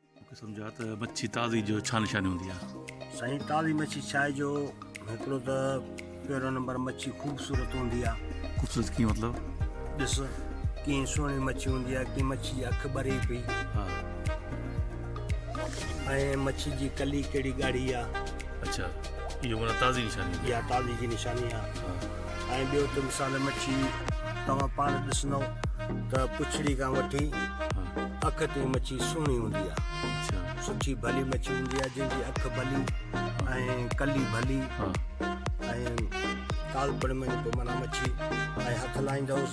مونکي سمجھا ته مڇي تازي جو ڇا نشاني هوندي آ. سائين تازي مڇي ڇاهي جو هڪڙو ته پهريون نمبر مڇي خوبصورت هوندي آ. خوبصورت ڪيئن مطلب؟ ڏس ڪيئن سهڻي مڇي هوندي آ ڪيئن مڇي جي اک ٻري پئي. ها. ۽ مڇي جي ڪلي ڪهڙي ڳاڙهي آ. اڇا اهو معنيٰ تازي نشاني هوندي آ. اها تازي جي نشاني آ. ها. ۽ ٻيو ته مثال مڇي توهان پاڻ ڏسندئو ته پڇڙي کان وٺي اک تائين مڇي سهڻي هوندي آهي سٺي ڀلي مڇي هوندي آهي جنهن جي اک ڀلي ۽ ڪلي ڀلي ۽ ڪالپڻ ۾ مڇي ۽ هٿ لائيندوس